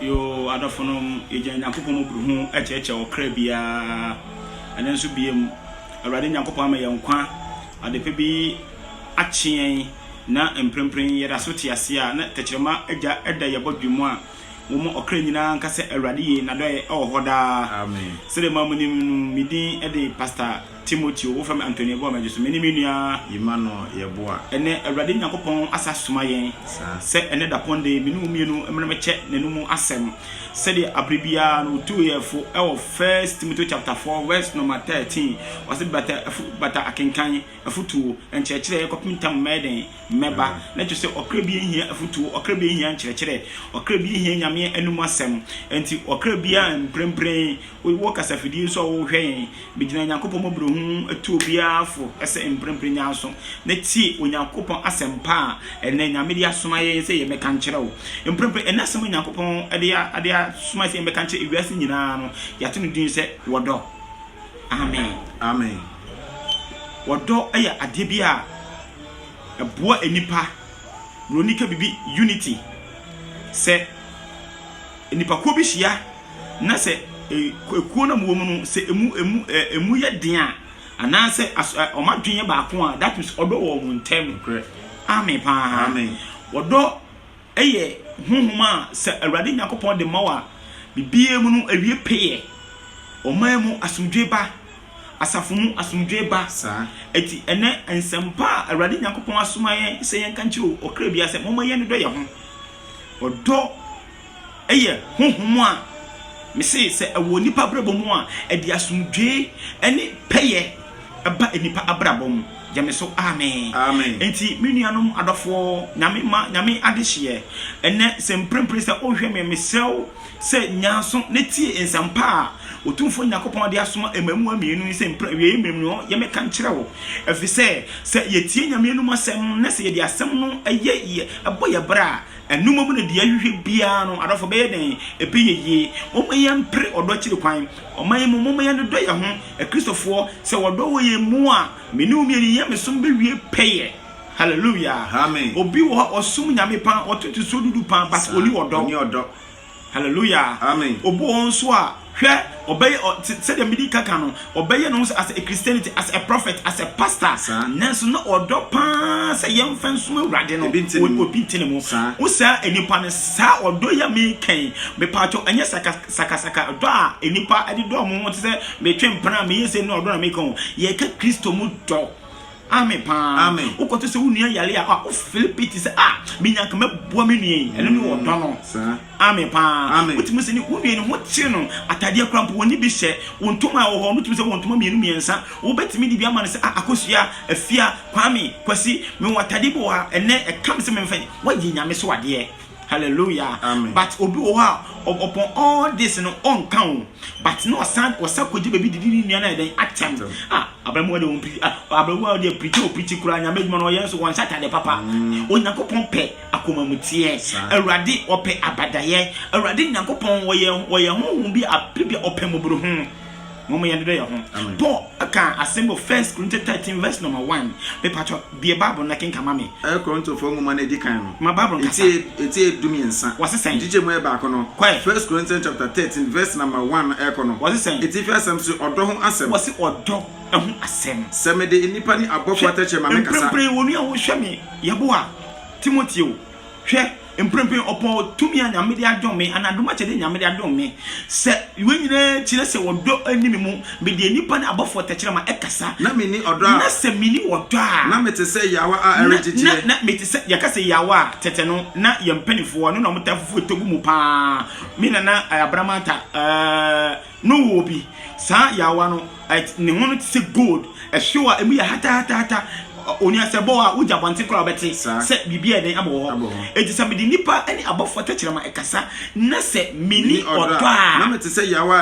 Yoo, adɔfonom, yɛgyina Nyankopɔn mmɔborohunu akyɛkyɛ ɔkra biara. Ɛnnɛ nso biom, Awurade Nyankopɔn ama yɛn nkwa, adepa bi akye yɛn, na mprempren yɛdaso te ase a na tɛkyerɛma agya da yɛn abɔdwene mu a wɔma ɔkra nyinaa nka sɛ Awurade ye, N'adɔeɛ wɔ hɔ daa. Sɛdeɛ moa monim no, me din de Pastor Timoteo, wo fam Antonio bɔ m'agye so, me ne me nua. Yema no yɛ boa. Ɛnnɛ, Awurade Nyankopɔn asa asoma yɛn sɛ ɛnnɛ dapɔn da yi me ne mo mmienu mmra mmɛkyɛ N'anom asɛm. Sɛdeɛ aberɛ biara no Ɔtuu yɛn fo wɔ First Timoteo chapter four verse nɔma thirteen, Ɔse, Bata afu, bata akenkan, afutuo, nkyerɛkyerɛ, kɔpem ntam mɛyɛ dɛn? Mɛba. Na ɛkyerɛ sɛ ɔkra biara nhia afutuo, ɔkra biara nhia nkyerɛkyerɛ, ɔkra biara nhia Nyame anom asɛm. Ɛnti ɔkra biara mprempren, wowɔ kasafidie nso a wohwɛ yɛn, Megyina Nyankopɔn mmɔborɔhunu mu atuo biara fo sɛ mprempren nyanso na tie Onyankopɔn asɛmpa a ɛnnɛ Nyame de asoma yɛn sɛ yɛmmɛka nkyerɛ wo. Mprempren ɛnnɛ asɛm a Nyankopɔn de asoma yɛn sɛ yɛmmɛka nkyerɛ ewiase nyinaa no, yɛato no din sɛ wɔdɔ. Amen. Amen. Wɔdɔ yɛ adeɛ bi a ɛboa nnipa. Buroni ka biribi, unity, sɛ. Nnipakuo bi hyia na sɛ ekuo no a wɔwɔ mu no sɛ emu emu emu yɛ den a anaasɛ as ɛ wɔn adwene yɛ baako a that means ɔdɔ wɔ wɔn ntam. Nokorɛ. Amen paa. Amen. Ɔdɔ yɛ honhom a sɛ Awurade Nyankopɔn de ma wo a biribiara mu no awie pɛyɛ. Ɔman mu asomdwoe ba. Asafo mu asomdwoe ba. Saa. Enti ɛnnɛ nsɛmpa a Awurade Nyankopɔn asoma yɛn sɛ yɛnka nkyerɛ ɔkra biara sɛ momma yɛnnodɔ yɛn ho. Ɔdɔ yɛ honhom a mese sɛ ɛwɔ nnipa abrabɔ mu a, ɛde asomdwoe ne pɛyɛ ba nnipa abrabɔ mu. Gye me so, amen. Amen. Enti me nuanom adɔfoɔ, Nyame mma, Nyame adehyeɛ, ɛnnɛ sɛ mprempren sɛ wohwɛ me, mesrɛ wo sɛ nya aso na tie nsɛmpa a Otumfoɔ Nyankopɔn de asoma mmaamua mmienu yi sɛ mpra awieeɛ mmerɛ mu no yɛmɛka nkyerɛ wo. Ɛfiri sɛ, sɛ yɛtie Nyame anom asɛm na sɛ yɛde asɛm no yɛ yɛ ɛbɔ yɛ bra a, Ɛno mmom na deɛ yɛhwehwɛ biara no, adɔfo, ɛbɛyɛ dɛn? Ɛbɛyɛ yie. Momma yɛmpere ɔdɔ akyiri kwan. Ɔman mu, momma yɛnnodɔ yɛn ho. Akristofoɔ, sɛ wɔdɔ wɔ yɛn mu a, me ne wo mmienu yɛn nyamesom bɛwie pɛyɛ. Hallelujah! Amen. Obi wɔ hɔ a, ɔsom Nyame paa, ɔtoto nsuo dudu paa, but ɔnni ɔdɔ. Hallelujah! Amen. Obu wɔn nso a, hwɛ, ɔbɛyɛ, ɔ, sɛ, sɛdeɛ medi ka ka no, ɔbɛyɛ ne ho sɛ as a Christianity, as a prophet, as a pastor. Saa. Nanso na ɔdɔ paa sɛ yɛmfa nsom Awurade no, Ebi nte ne o- mu. obi nte ne mu. Saa. Wo saa nnipa no, saa ɔdɔ yi a meka yi, mepaakyɛw, ɛnyɛ saka, sakasaka dɔ a nnipa de dɔ wɔn ho te sɛ metwe mpena a meyɛ sei ne ɔdɔ na meka o. Yɛka Kristo mu dɔ. Amen paa. Amen. Wokɔto sɛ wo nua yare a wo fili piti sɛ ah menya nka mɛboa me nua yi ɛno ne mm, ɔdɔ no. Amen paa. Amen. Wotumi sɛ ne wo nua ne ho kyere no atadeɛ kora mpo wɔne bi hyɛ wo ntoma a wɔ hɔ no tumi sɛ wɔ ntoma mmienu mmiɛnsa wobɛtumi de bi ama no sɛ ah akosua afia kwame kwasi mewɔ atadeɛ bi wɔ ha ɛnɛ ɛka me sɛ memfa wɔyɛ nyame so adeɛ. Hallelujah Amen. but obi wɔ hɔ a ɔ- upon all this no ɔnka o but na ɔsan ɔsan kɔgye baabi didi ne nua no ayɛ dɛn atɛm Atɛm. a abamuwa de wɔn pirikyi a abamuwa de pirikyi o pirikyi koraa nyame adwuma no ɔyɛ nso wɔn nhyɛ atade papa onyankopɔn pɛ akomamuteɛ Saa. awurade ɔpɛ abadayɛ awurade nyankopɔn wɔyɛ wɔyɛ honhom bi a biribi a ɔpɛ mmɔborɔhunu Momma yɛndodɔ yɛn ho. Paul kaa asɛm bi wɔ First Corinthians thirteen verse number one. Me patrɔ, bue Bible no na kenkan ma me. Korintofoɔ Nwoma no edi kan no. Ma Bible no kasa. Eti yɛ du mmiɛnsa. Wɔse sɛn? Nkyekyɛ mu yɛ baako no. Kɔ ɛ. First Corinthians chapter thirteen verse number one no ɛkɔ no. Wɔse sɛn? Atifi asɛm se ɔdɔ ho asɛm. Wɔse ɔdɔ ho asɛm. Sɛ mede nnipa ne abɔfoɔ atɛkyerɛ ma me kasa. Hwɛ, mprempren onua wo hwɛ me yɛboa Timoteo. Hwɛ, mprempren ɔpɔn wɔ tumi a Nyame de adom me, anaa dom akyɛde a Nyame de adom me, sɛ wei nyinaa kyerɛ sɛ ɔdɔ nni me mu, medeɛ nnipa ne abɔfoɔ tɛkyerɛma kasa, na menni ɔdɔ a, na sɛ menni ɔdɔ a, na mete sɛ yawa a ɛregyegyeɛ. Na, na, mete sɛ, yɛka sɛ yawa a, tɛtɛ no, na yɛn mpaninfoɔ, ɛno na wɔtaa fufu tɔ gu mu paa, me nana Abraham Antar, ɛɛɛ. No wɔ bi. Saa yaawa no, ne ho no te sɛ gold, ɛhyew a emu yɛ hatahatahata. Onii a sɛ ɛbɔ wo a, wogye abɔnten koraa a wobɛte sɛ biribi a ɛdɛn abɔ wɔ hɔ. Enti sɛ mede nnipa ne abɔfoɔ tɛkyerɛma ɛkasa, na sɛ menni ɔdɔ a, na mete sɛ yaawa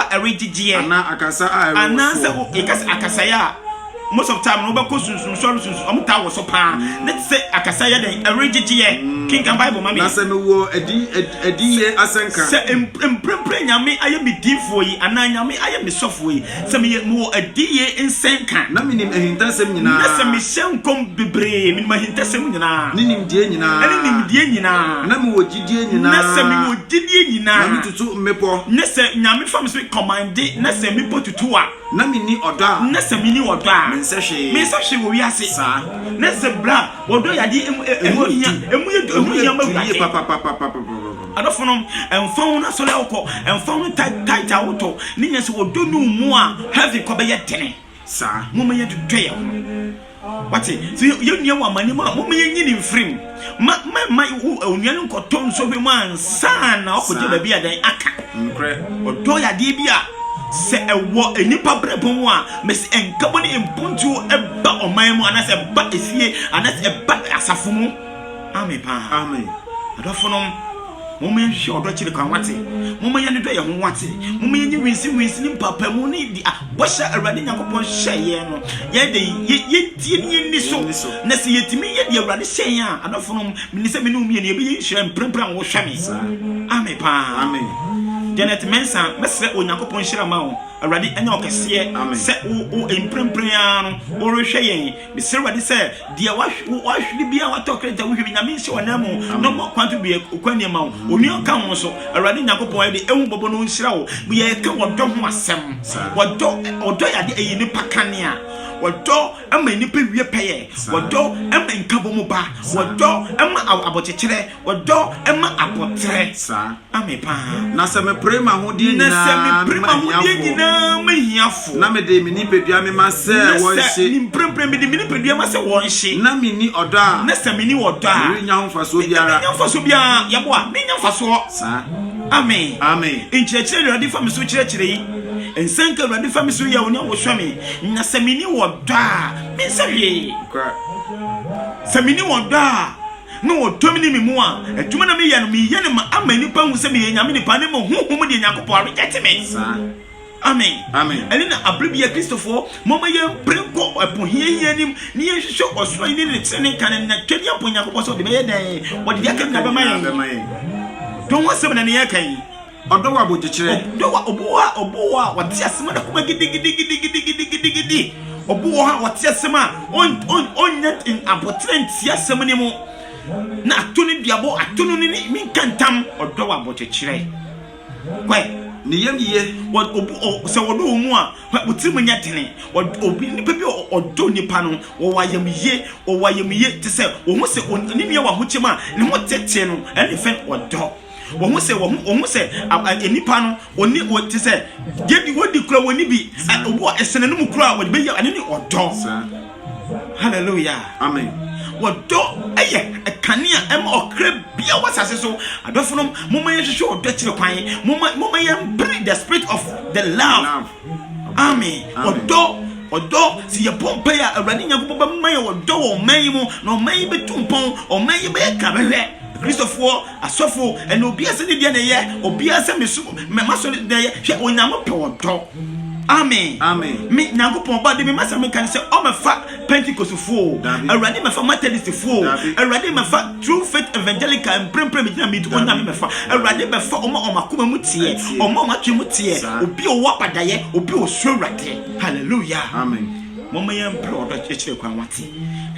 a ɛregyegyeɛ, anaasɛ yɛka sɛ akasaeɛ a. most of time no wobɛkɔ sunsum sɔre sunsum ɔmo taa wɔ so paa ne te sɛ akasa yɛ dɛn ɛregyegyeɛ kenkan bible ma me na sɛ mewɔ adi adiyie asɛnka sɛ mprempren nyame ayɛ me diifoɔ yi anaa nyame ayɛ me sɔfoɔ yi sɛ meyɛ mewɔ adiyie nsɛnka na menim ahintasɛm nyinaa na sɛ mehyɛ nkɔm bebree menim ahintasɛm nyinaa ne nimdeɛ nyinaa ɛne nimdeɛ nyinaa na mewɔ gyidie nyinaa na sɛ mewɔ gyidie nyinaa na metutu mmepɔ ne sɛ nyame fa me sɛ kɔmande na sɛ mmepɔ tutu a Na menni ɔdɔ a. Na sɛ menni ɔdɔ a. Mensɛ hwee. Mensɛ hwee wɔ wiase. Saa. Na sɛ bere a ɔdɔ yɛ adeɛ emu ɛ, ɛho hia, emu yɛ du, ɛho hia ma Awurade. Ɛmu yɛ du yie papapapapapapapa. Adɔfonom, ɛmfa ho n'asɔre a wokɔ, ɛmfa ho tight, tight a wotɔ, ne nyinaa sɛ ɔdɔ nni wo mu a, heaven kɔ bɛyɛ dene. Saa. Momma yɛntotɔ yɛn ho. Wate? So yɛn nua wɔ amane mu a, moma yɛn nyini mfirim. Ma ma ma onua no nkɔtɔ nsɔhwɛ mu ansa na ɔkɔgye baabi a dan aka. Nkorɛ. Ɔdɔ yɛ adeɛ bi a sɛ ɛwɔ nnipa brɛbɔ mu a, mɛsi nkabɔ ne mpontuo ɛba ɔman mu anaasɛ ɛba efie anaasɛ ɛba asafo mu. Amen paa. Amen. Adɔfonom. Momma yɛnhwehwɛ ɔdɔ kyiri kwan, wate. Momma yɛn ani dɔ yɛn ho, wate. Momma yɛnyi winsinwinsi ne mpaapaemu ne di a bɔhyɛ a Awurade Nyankopɔn hyɛɛ yɛn no. Yɛn de, yɛntie na yɛnni so. Na sɛ yɛtumi yɛ deɛ Awurade hyɛɛ yɛn a, adɔfonom, menim sɛ me ne wo mmienu yɛbɛyɛ nhyira mprempren a wohwɛ me. Amen paa. Janet Mensah, mɛsrɛ Onyankopɔn nhyira mma wo. Awurade anya wo kɛseɛ sɛ wo, wo, mprempren ara no worehwɛ yɛn. Mesrɛ Awurade sɛ deɛ wahwere biara watɔ kreta wohwɛ bi nyame nhyɛ wɔn nan mu na ɔmɔ kwan to deɛ okwa nneɛma wo onua ka ho so Awurade Nyankopɔn ɛde ehu bɔbɔ no nhyira wo yɛ ka wɔdɔ ho asɛm wɔdɔ wɔdɔ yade ɛyɛ nipa kanea wɔdɔ ɛma nipa wie pɛyɛ wɔdɔ ɛma nkabɔ mu ba wɔdɔ ɛma abɔkyekyerɛ wɔdɔ ɛma abɔterɛ me paa. Na sɛ mepere m'ahodeɛ nyinaa mema hiafoɔ. Na sɛ mepere m'ahodeɛ nyinaa ma hiafoɔ. Na mede me nipadua mema sɛ wɔnhye. Na sɛ mprempren mede me nipadua ma sɛ wɔnhye. Na menni ɔdɔ a. Na sɛ menni ɔdɔ a. Merennya ho mfasoɔ biara. Merennya mfasoɔ biara. Yɛboa. Merennya mfasoɔ. Saa. Amen. Amen. Nkyerɛkyerɛ Awurade fa me so kyerɛkyerɛ yi. Nsɛnka Awurade fa me so yɛ onye wohwɛ me. Na sɛ menni ɔdɔ a, mensɛ hwee. Sɛ menni ɔdɔ a. na ɔdɔ me ne me mu a, adwuma na meyɛ no, meyɛ no ma ama nnipa hu sɛ meyɛ Nyame nipa, ne mo honhom deɛ Nyankopɔn aregɛte me. Saa. Amen. Amen. Ɛne na abere bia Kristofoɔ mɔma yɛn pere nkɔ ɛpo hiahia anim na yɛnhwehwɛ ɔsoro yi ne ne tene ne kane na twɛne abɔ Nyankopɔn sɛ ɔde bɛyɛ dɛn wɔde deɛ aka nyina bɛma yɛn. Dɔn ho asɛm na ne yɛka yi. Ɔdɔ wɔ abodwokyerɛ. Ɔdɔ wɔ ɔbo wɔ a ɔbo wɔ a ɔte asɛm na kɔma gidigidigidigidigidigidi. Ɔbo wɔ a ɔte asɛm a ɔnyɛ abotire nti asɛm no mu. Na ato no duabɔ ato no ne ne nka ntam. Ɔdɔ wɔ abodwokyerɛ. Kwae ne yam yie sɛ wɔdɔ wɔn mu a wɔtiri mu nyɛ dene. Obi nipa bi ɔdɔ nipa no wɔwɔ ayamyie wɔwɔ ayamyie te sɛ wɔn ho sɛ ne nua wɔ ahokyɛm a ne ho tete no ɛne fɛn ɔdɔ. Wɔn sɛ wɔn wɔn sɛ nnipa no wɔn wɔn te sɛ yɛdi wɔdi kura wɔn ni bi obi wɔ ɛsɛn no mu kura a wɔde bɛyɛ ɛne ne ɔdɔ hallelujah amen wɔdɔ ɛyɛ kanea ɛma ɔkra bia wɔ asase so adɔfo no mo ma yɛhwehwɛ ɔdɔ akyiri kwan mo ma mo ma yɛn pray the spirit of the love. Amen ɔdɔ ɔdɔ sɛ yɛbɔ mpae a awurade nyankopɔn bɛma yɛ ɔdɔ wɔ ɔman yi mu na ɔman yi bɛtu mpɔn ɔman yi bɛyɛ ka bɛhwɛ kristofoɔ asɔfo ɛna obiara sɛ ne deɛ na ɛyɛ obiara sɛ meso mɛma so na ɛyɛ hwɛ onyame pɛ ɔdɔ amen amen me nyankopɔn ba de me ma sɛ meka ne sɛ ɔmɛfa pentecostefoɔ o awurade mɛfa methodistfoɔ o awurade mɛfa true faith evangelical mprempren mi gyina mi di ɔnyame mɛfa awurade mɛfa ɔmo a ɔmo akoma mu teɛ ɔmo a ɔmo atwi mu teɛ obi a ɔwɔ abadayɛ obi a ɔsuro awurade hallelujah amen mɔmɔ yɛn mpere ɔdɔ kyerɛ kwan wate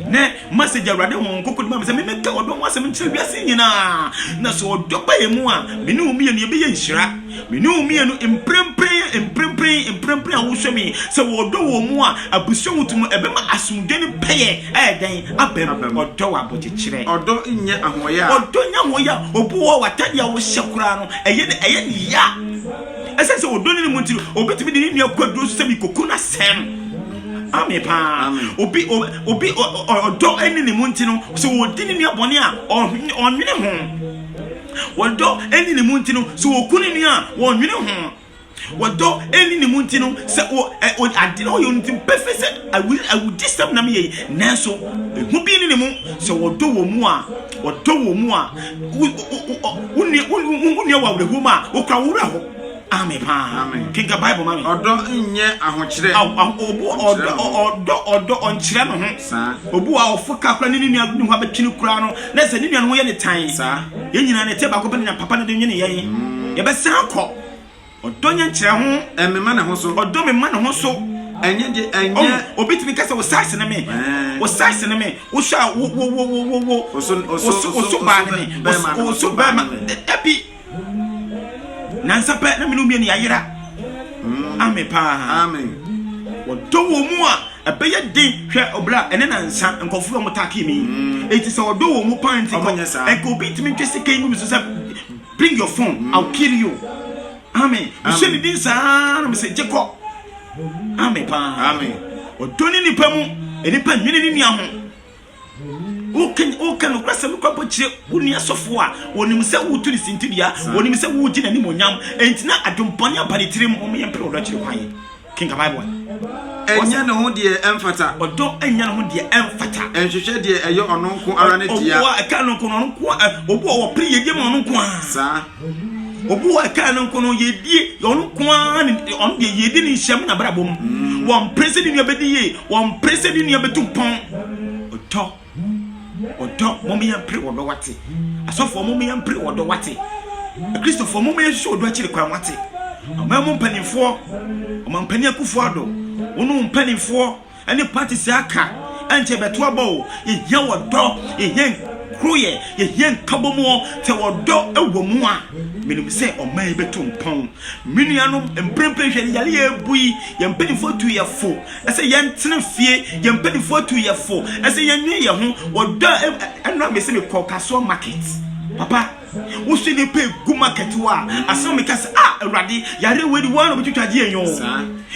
ne message awurade wɔn nkoko dima sɛ memeka ɔdɔ ho asɛm nkyerɛ wiase nyinaa na sɛ ɔdɔ ba yɛ mu a mene wo mmienu yɛbɛyɛ nhyira Me ne wo mmienu, mprempren, mprempren, mprempren a wosɔ me sɛ wɔdɔ wɔn mu a, abusua ho tumi, ɛbɛma asomdwe ne pɛyɛ ayɛ dɛn? Abam. Ɔdɔ wɔ abɔkyekyerɛ. Ɔdɔ nyɛ ahoɔyaa. Ɔdɔ nyɛ ahoɔyaa. Obu wɔ w'atade a wohyɛ koraa no, ɛyɛ no, ɛyɛ no ya. Ɛsɛ sɛ ɔdɔ ne ne mu nti no, obetumi de ne nua kɔ aduro so sɛ mekɔku no asɛe no. Ame paa. Obi, obi, ɔdɔ ne ne mu nti no, sɛ ɔdi ne nua bɔne a, ɔnwene ho. Wɔdɔ ɛni ne mu nti no sɛ wɔku ne nua a wɔnwene ho. Wɔdɔ ɛni ne mu nti no sɛ ade na ɔyɛ nti pɛfɛ sɛ awudi sɛm nam yɛ nanso ɛho bi ne ne mu sɛ wɔdɔ wɔ mu a wɔdɔ wɔ mu a wonua wɔ awerɛhoɔ mu a wokura worɛ hɔ Amen paa. Amen. Kenka Bible ma me. Ɔdɔ nyɛ ahokyerɛ. Aw aw obu ɔdɔ ɔdɔ ɔdɔ ɔnkyerɛ no ho. Saa. Obu a ɔfo ka kora ne ne nua ne ho abɛtwe no kura no na sɛ ne nua no ho yɛ ne tan. Saa. Yɛn nyinaa ne te baako pɛ na papa no de nwene yɛn. Mm. Yɛbɛsan akɔ. Ɔdɔ nyɛ nkyerɛ ho. Ɛmema ne ho so. Ɔdɔ me ma ne ho so. Ɛnyɛ de ɛnyɛ. Oh, obi tumi kasa o size ne me. O size ne me. O sha wo wo wo wo wo. Oso oso oso baa ne me. Oso bɛrima. Ebi. nansa pɛ na mene mmienu yɛayera ame paa wɔdɔ wɔ mu a ɛbɛyɛ den hwɛ ɔbla ɛne nansa nkɔfo a wɔtake me ɛti sɛ ɔdɔ wɔ mu paa nti ɛka obi ntumi ntwe sika yi mu so sɛ bring your phone mm. I'll kill you amen mehyɛ ne din saa na mesɛ gye kɔ amen paa ɔdɔ ne nipa mu nipa nwene ne nua ho woka nokwasɛm kɔ abɔkyerɛ wo nua sɔfo a wɔnim sɛ wotu ne sintidua wɔnim sɛ wogye n'animonyam ɛnti na adwempɔne aba ne tirim wɔn yɛ mpere ɔdɔ kyerɛ kwan kenka bible ɛnyɛ ne ho deɛ ɛmfata ɔdɔ ɛnyɛ ne ho deɛ ɛmfata ɛnhwehwɛ deɛ ɛyɛ ɔno nko ara ne dea ɔboa ɛka no nko no nko ɔboa wɔpere yɛdeɛ ma ɔno nko a saa Obu a ɛkaa no nko no yɛdie ɔno nko ara ne ɔno deɛ yɛdi ne nhyia mu n'abrabɔ mu mm. wɔmpere sɛ ne nua bɛdi yie wɔmpere sɛ ne nua bɛtu mpɔn ɔdɔ ɔdɔ mɔmɔ yɛn pere ɔdɔ wate asɔfoɔ mɔmɔ yɛn pere ɔdɔ wate akristofoɔ mɔmɔ yɛn hwehwɛ ɔdɔ akyiri kwan wate ɔman mu mpanimfoɔ ɔman mpanyin akufoɔ ado wɔn mpanimfoɔ. ne parties aka ɛnkyɛ yɛbɛto aba o yɛhia wɔdɔ yɛhia nkoroyɛ yɛhia nkabɔmuɔ sɛ wɔdɔ ɛwɔ mu a menim sɛ ɔman yi bɛto mpɔn me nuanom mprempren hwɛ ne yale yɛ abu yi yɛn mpanimfoɔ atu yɛ fo ɛsɛ yɛntena fie yɛn mpanimfoɔ atu yɛ fo ɛsɛ yɛnwe yɛ ho wɔdɔ ɛno a mese mekɔ kasoɔ market papa Woso nnipa egu market hɔ a, asɛm meka sɛ, ah, Awurade, yareɛ wei de wɔn na wɔbɛtwitwa agye yɛn o.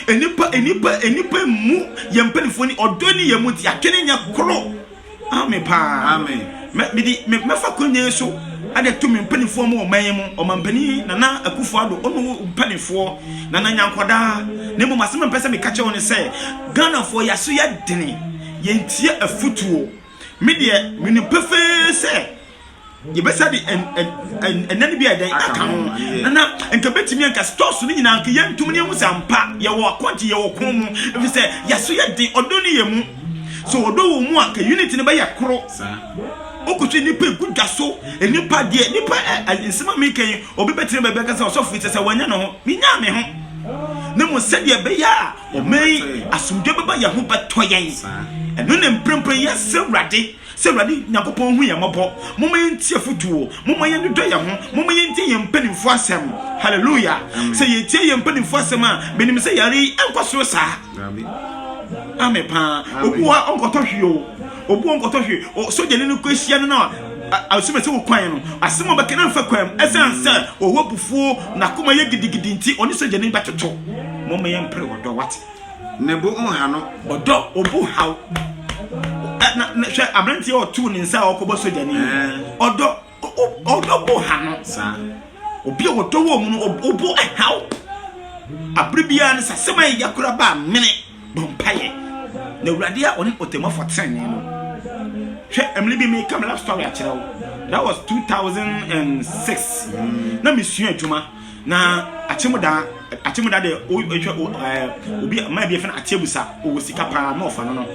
Nnipa, nnipa, nnipa mu yɛn mpanimfoɔ ni ɔdɔ ni yɛn mu nti yɛatwene nyɛ koro. Amen paa. Amen. Mɛ mede mɛfa kɔnyɛ yi so ɛde to me mpanimfoɔ mu ɔman yi mu ɔmampanin Nana Akufo Addo ɔno mpanimfoɔ Nana Nyankwadaa na mmom asɛm a mpɛ sɛ meka kyerɛ wɔn ne sɛ Ghanafoɔ yɛaso yɛ dene yɛntie afutuo. Me deɛ menim pefee sɛ yɛbɛsa de ɛnɛ no bi a ɛdɛn aka ho na nka bɛtumi anka stores no nyinaa nka yɛntum ne ɛhu sɛ ampa yɛwɔ akɔgye yɛwɔ ko mu ɛfiri sɛ yɛso yɛ den ɔdɔ no yɛ mu so ɔdɔ wɔ mu a ka unit no bɛyɛ koro wokɔhwɛ nnipa ɛgu dwa so nnipa deɛ nnipa nsɛma meka yi obi bɛtene bɛbɛka sɛ ɔsɔfo sɛ sɛ wanya ne ho menyaa me ho na mu sɛdeɛ ɛbɛyɛ a Ɛmɛ yi, asomdwoe bɛba yɛn ho bɛtɔ yɛn. Ɛno na mprempren yɛsrɛ Awurade sɛ Awurade Nyankopɔn nhu yɛn mmɔbɔ. Momma yɛntie afotu o. Momma yɛnnodɔ yɛn ho. Momma yɛntie yɛn mpanyimfo asɛm. Hallelujah. Sɛ yɛtie yɛn mpanyimfo asɛm a, menim sɛ yare yi ɛnkɔ soro saa. Amen paa. Obi wɔ hɔ a ɔnkɔtɔ hwee o. obuo nkɔtɔ hwee o sogyani no kɔ ahyia no no a asoma sɛ wokwan no asɛm a ɔbɛka no mfa kwan mu ɛsiane sɛ ɔwɔ abufuo n'akoma yɛ gidigidi nti ɔne sogyani bɛtoto moma yɛmpere ɔdɔ wate ne bo nha no ɔdɔ ɔbu haw na hwɛ aberanteɛ ɔtoo ne nsa a ɔkɔbɔ sogyani ɔdɔ ɔdɔ bo ha no saa obi a wɔdɔ wɔ mu no ɔbo ɛhaw abere biara no sɛ asɛm a ɛya kora ba mene bɔ mpaeɛ na awurade a ɔne ɔtɛmɔfo tenene no hwɛ ɛmene bi meka me love story akyerɛ wo that was 2006 na mesua adwuma na akyemda akyemda de ɔtwa ɛɛ obi maa bi fɛn akyɛbusa ɔwɔ sika paa ma ɔfa no no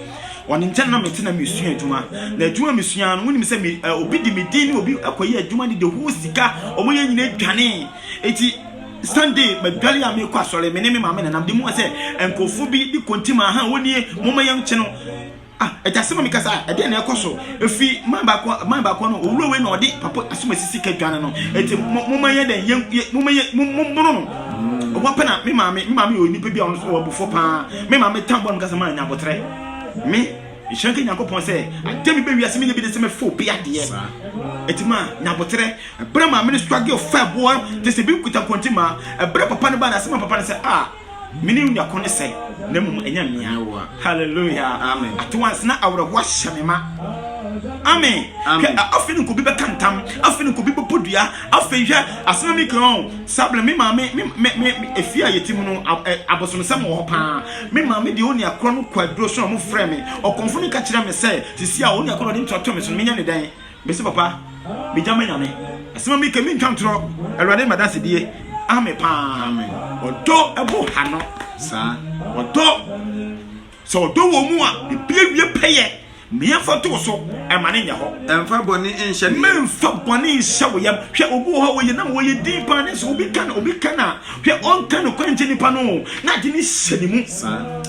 ɔne nkyɛn na mete na mesua adwuma na adwuma mesua no wonim sɛ me eh, obi de me din ne obi akɔyɛ adwuma ne de ho sika ɔmo yɛ nyina adwane eti sunday madwale a mekɔ asɔre me ne me maame nanam de mu sɛ nkurɔfo bi de kontima ha wɔnie moma yɛnkye no Ah, ɛgya sɛ ma mi kasa, ɛdeɛ na ɛkɔ so. Efi man baako man baako no, owura wei na ɔde papa asoma sisi ka dwane no. Eti mo mo ma yɛ dɛ yɛ yɛ mo ma yɛ mo mo bono no. Ɔwɔ mm. pɛ na me maame me maame yɛ onipa bi a ɔno so wɔ abofo paa. Me maame tan bɔ no kasa ma nya abotrɛ. Me nhyira nka nyankopɔn sɛ adeɛ me bɛ wiase me nya bi de sɛ me fo bi adeɛ. Eti ma nya abotrɛ. Ɛbrɛ maame no struggle fa boɔ te sɛ bi kuta kɔnti ma. Ɛbrɛ papa no ba na sɛ ma papa no sɛ ah Menim nea ɔko ne sɛ, na mmom ɛnyɛ mmea. Hallelujah. Amen. Ato ansa na awerɛhow ahyɛ me ma. Amen. Hwɛ, afei ne nkobi bɛka ntam, afei ne nkobi bɛbɔ dua, afei hwɛ, asɛm a mi kan o, Sablɛ, me maame, me, me, me, efie a yɛte mu no, abosomsɛm wɔ hɔ paa. Me maame deɛ onua korɔ no kɔ aduro so na wɔfrɛ me, ɔkɔmfo no ka kyerɛ me sɛ, sisi a onua korɔ na ɔde ntua to me so no, menyɛ ne dɛn? Mese papa me gya me nyame. Asema mi kɛ mi ntwa ntorɔ awurade ma danse die ame paa. Ɔdɔ ɛbo ha no saa ɔdɔ sɛ ɔdɔ wɔ mu a ebi awie pɛyɛ mmea fa to so ɛma ne nyɛ hɔ. Ɛmfa bɔne nhyɛ ne yam. Mfa bɔne nhyɛ wo yam. Hwɛ obi wɔ hɔ a wɔyɛ nam wɔyɛ din paa ne so obi ka no obi ka na hwɛ ɔnka no kwan nkyɛ nipa no na ade ne hyɛ ne mu.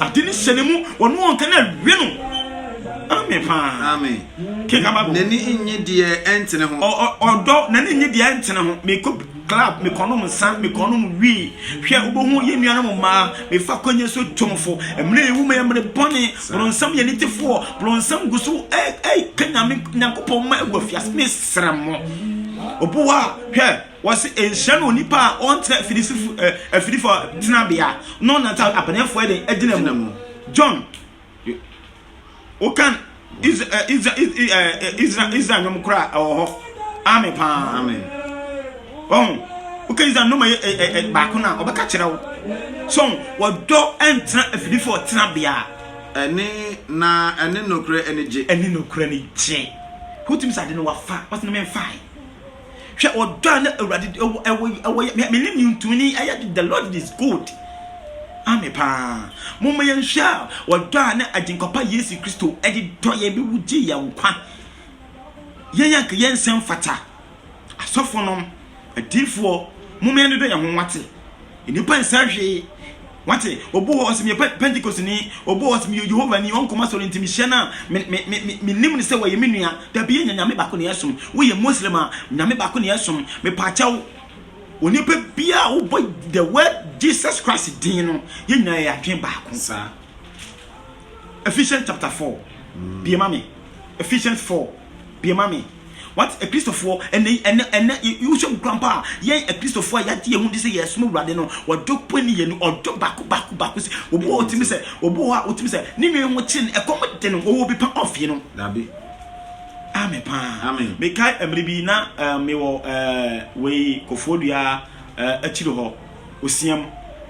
Ade ne hyɛ ne mu wɔn ɔnka na awie no. Amen paa. Amen. Kenkan Bible. N'ani nnye deɛ ɛntene ho. Ɔ, ɔ, ɔdɔ, n'ani nnye deɛ ɛntene ho. Mekɔ club, mekɔnom nsa, mekɔnom wii. Hwɛ, wobɛhu yɛn nuanom mmaa, mefa kɔnyɛ so tomfo. Mmerɛ yɛwu mu yɛ mmerɛ bɔne. Bronsam yɛ nitefoɔ. Bronsam gu so ɛ, ɛ, ka Nyame, Nyankopɔn mma agu afiase. Mesrɛ mo. Obi hɔ a, hwɛ, wɔse nhyira ne onipa a ɔntena afidisifo, ɛ, afidifo tenabea, na ɔnante abaneɛfoɔ ɛdɛn, agyina mu. John. Wokan Israel Israel nnwom koraa ɛwɔ hɔ. Ame paa. Ame. Wɔn wokan Israel nnwom ɛyɛ ɛyɛ baako na ɔbɛka kyerɛ wo. So wɔdɔ ɛntena afidifo ɔtena bea. Ɛne na ɛne nokore ɛne gye. Ɛne nokore ɛne gye. Wotumi sɛ ade no wafa wɔsɛ ne mɛnfae. Hwɛ ɔdɔ a na Awurade de ɛwɔ ɛwɔ ɛwɔ yɛ. Me ne ntuni ayɛ de the Lord is good. Ame paa. Moma yɛn hwɛ a ɔdɔ a na Agyenkɔpa Yesu Kristo ɛde dɔ yɛn bi wu gye yɛn nkwa. Yɛn yɛn ka yɛn nsɛm fata. Asɔfo nom, adiifoɔ, moma yɛn dodɔ yɛn ho nwate. Nnipa nsɛ hwee. Wate? Obu hɔ sɛ meyɛ Pe Pentekosteni. Obu hɔ sɛ meyɛ Yehowani. Ɔnkɔm asɔre nti mehyia no a, me, me, me, me, mennim no sɛ ɔyɛ me nua. Dabi, yɛnyɛ Nyame baako na yɛsom. Woyɛ Muslim a, Nyame baako na yɛsom. Mepaakyɛw, onipa biara a wobɔ the word Jesus Christ din no, yɛn nyinaa yɛyɛ adwene baako. Saa. Ephesians chapter four bie ma me Ephesians four bie ma me What Akristofoɔ ɛnɛ ɛnɛ ɛnɛ yɛwusu mu kura mpa a yɛn Akristofoɔ a yɛagye yɛn ho di sɛ yɛsom awurade no ɔdɔ pɛ ne yɛn ɔdɔ baako baako baako sɛ obi wɔ ɔtumi sɛ obi wɔ a ɔtumi sɛ ne nua ho kyerɛ no ɛkɔm de no ɔwɔ bi pa ɔfie no dabi ame paa mekae mmere bi na mewɔ wei kofoɔ dua akyiri hɔ osiam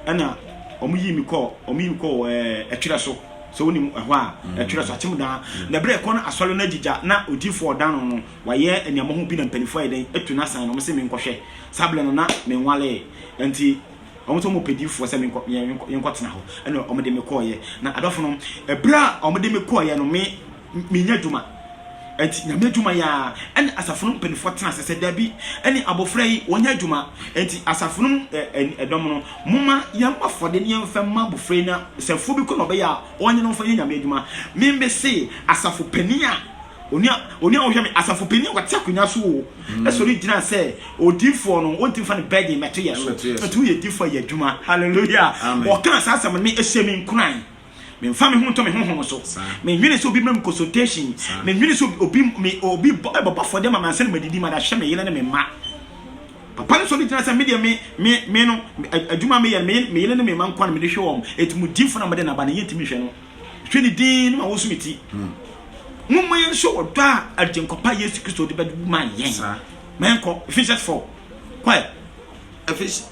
na wɔyii me kɔɔ wɔyii me kɔɔ ɛɛ ɛtwerɛ so sɛ wonim ɛhɔ a ɛtwerɛ so akyem daa na berɛ ɛkɔ no asɔre no agyigya na odiifoɔ ɔdan no no wayɛ nneɛma ho bi na mpanimfoɔ ayɛ dɛn atu n'asan na wɔn sɛ menkɔhwɛ saa berɛ no na menwalee nti wɔn sɛ wɔn pɛ diifoɔ sɛ menkɔ yɛnkɔ yɛnkɔtena hɔ ɛna wɔn de me kɔɔyɛ na adɔfo no ɛberɛ a wɔn de me kɔɔyɛ no me Menya adwuma. Enti Nyame adwuma yi ara ɛne asafo no mpaninfoɔ tena ase sɛ dabi ɛne abɔfra yi wɔnyɛ adwuma enti asafo no mu dɔm no momma yɛmmɔ afɔdeɛ ne yɛmfa mma abɔfra yi na sɛ afuo bi kɔ na ɔbɛyɛ a ɔnyɛ na ɔmfa nyɛ Nyame adwuma. Me me se asafo panin a onua onua wohwɛ me asafo panin a ɔte akonwa so o ɛsɔre gyina sɛ odiifoɔ no wɔnti mfa ne burden mɛto yɛ so enti woyɛ diifoɔ a yɛ adwuma hallelujah ɔkaa saa asɛm no me ɛhyɛ me nkuran. Memfa me ho ntɔ me honhom so. Menwene sɛ obi ma me consultation. Menwene sɛ obi me obi bɛbɔ afɔdeɛ ma me ansa na madidi ma dahyɛ me yere ne me mma. Papa no sɔ ne gyina sɛ medeɛ me me me no adwuma meyɛ me me yere ne me mma nkwa na mede hwɛ wɔn. Ɛti mu difo na mede naba na yɛntumi nhwɛ no. Hwɛ ne din ne ma wɔso me ti. Momma yɛn nso ɔdɔ a agyenkɔpa Yesu Kristo de bɛma yɛn. Ma yɛn kɔ Ephesians 4. Kɔ ɛ. Ephesians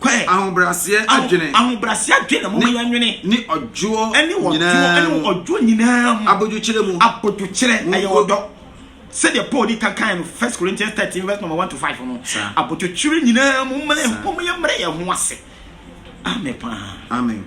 kɔɛ. Ahobrɛaseɛ adwene. Aho, ahobrɛaseɛ adwene, momma yɛnwene. Ne ɔdwoɔ ɛne ɔdwoɔ, nyinaa ɛne mu. ɔdwoɔ nyinaa mu. Abodwokyerɛ mu. Abodwokyerɛ, ɛyɛ Monko. ɔdɔ. Sɛdeɛ Paul di kan kaeɛ no, First Corinthians thirteen verse number one to five no, Saa. abodwokyerɛ nyinaa mu, momma yɛn, Saa. momma yɛmmrɛ yɛn ho ase. Amen paa. Amen.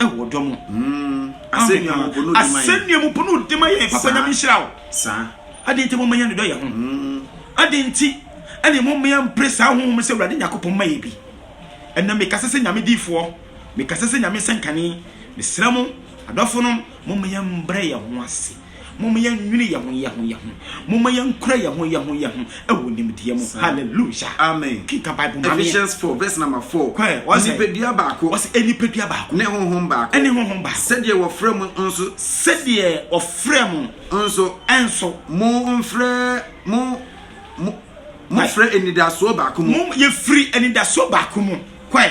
ɛwɔ ɔdɔ mu. Mm, asɛnnua mu po no di ma yɛn. Asɛnnua mu po no di ma yɛn. Papa Nyame nhyira wo. Saa. Adɛn nti mo mmea ne dɔ yɛ ho? Mm. Adɛn nti ɛne mo mmea mpere saa honhom sɛ Awurade Nyakopɔn ma yɛ bi? Ɛnna mekasa sɛ Nyame diifoɔ, mekasa sɛ Nyame sɛnkane, mesrɛ mo, adɔfonom, mo mmea mbrɛ yɛ ho ase. Momma yɛnnwene yɛn ho yɛn ho yɛn ho. Momma yɛnkura yɛn ho yɛn ho yɛn ho wɔ nimdeɛ mu. Hallelujah. Amen. Kenka Bible ma me. Ephesians 4 verse number 4. Kɔ ɛ, wɔsɛ- Nipadua baako Wɔsɛ nipadua baako ne honhom baako. ne honhom baako. Sɛdeɛ wɔfrɛ mo nso Sɛdeɛ wɔfrɛ mo nso nso. mo mfrɛ mo mo mofrɛ anidasoɔ baako mu. Mo yɛfiri anidasoɔ baako mu. Kɔ ɛ.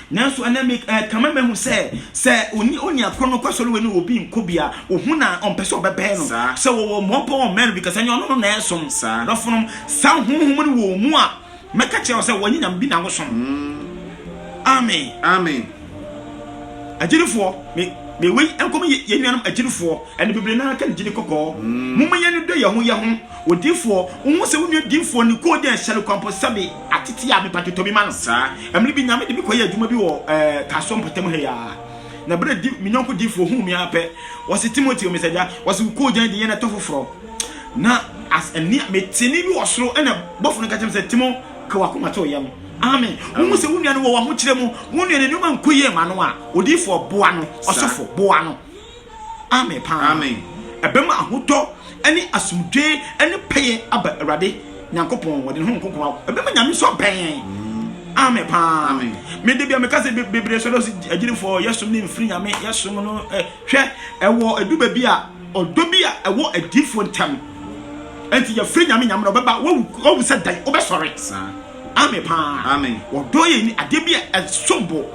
Nanso ɛnnɛ me eh, kama mahu sɛ sɛ oni oni akoro no kɔ sɔre wei no obi nkɔ bi a ohu na ɔmpɛ sɛ ɔbɛbɛn no sɛ wɔwɔ mmɔbɔ wɔn mɛn no bi kasa nyɛ ɔno no na ɛsom dɔfonom saa honhom no wɔ mu a mɛka kyerɛ wo sɛ wɔnyɛ nyame bi na wosom mm. amen amen agyinifoɔ me mewei nkɔm yɛ nuanom agyinifoɔ ɛne bebree naa ka ne gyini kɔkɔɔ mm. momma yɛn no dɔ yɛn ho yɛn ho Odiyifoɔ, wo hu sɛ wo nua diyifoɔ no kɔɔ dii ahyɛne kwan mpo sɛbe atete a, mepatwo tɔ bi ma no. Saa mmere bi Nyame de me kɔyɛɛ adwuma bi wɔ eh, Tasoɔ mpɔtam ha yi ara. Na berɛ a di, me yɔnko diyifoɔ huu me ara pɛ, ɔse, Timoteo, me sɛ, Agya, ɔse, wo kɔɔ gyan de yɛn ɛtɔ foforɔ. Na as, ɛnne a, me tee nne bi wɔ soro, ɛna bɔfo no ka kyerɛɛ me sɛ, Timo, ka w'akoma to wo yam. Amen. Wo hu sɛ wo nua no wɔ w'ahokyerɛ mu, wo nua no nneɛma nkɔ yie ma no a, odiyifoɔ, boa no, ɔsɔfo, boa no. Amen paa. Amen. Ɛbɛma ahotɔ ne asomdwee ne pɛyɛ aba Awurade Nyankopɔn wɔde ne ho nkonko awo. Ɛbɛma Nyame nso abɛn yɛn. Mm. Amen paa. Amen. Me de bia me kase bebree sɔrɔ si agyinifo yɛsom ne mfiri Nyame yɛsom no eh, hwɛ ɛwɔ edu baabi a ɔdɔ bi a ɛwɔ adifo ntam. Enti yɛfiri Nyame Nyame na ɔbɛba wawu sɛ dan wobɛsɔre. Amen paa. Amen. Ɔdɔ yɛ ni adeɛ bi a ɛsombo.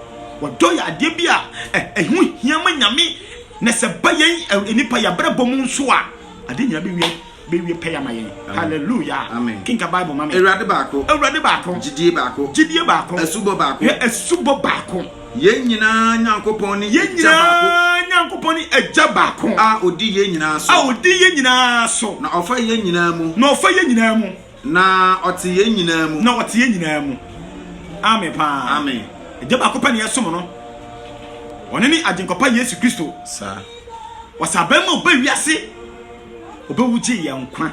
Ɔdɔ yɛ adeɛ bi a ɛho hia ma Nyame, na sɛ ba yɛn nnipa yɛ abrabɔ mu nso a, ade nyina bɛwie bɛwie pɛyɛ ama yɛn. Hallelujah. Amen. Kenka Bible ma me. Awurade baako. Awurade baako. Gyidie baako. Gyidie baako. Asubɔ baako. Hwɛ asubɔ baako. Yɛn nyinaa Nyankopɔn ne Yɛn Agya baako. nyinaa Nyankopɔn ne Agya baako A ɔdi yɛn nyinaa a so. ɔdi yɛn nyinaa so, Na ɔfa yɛn nyinaa mu. na ɔfa yɛn nyinaa mu. Na ɔte yɛn nyinaa mu. Na ɔte yɛn nyinaa mu. Amen paa. Amen. Agya baako pɛ na yɛsom no. Ɔno ne Agyenkɔpa Yesu Kristo. Saa. Ɔsɛ abɛn ma ɔba wiase. Ɔbɛwu gye yɛn nkwa.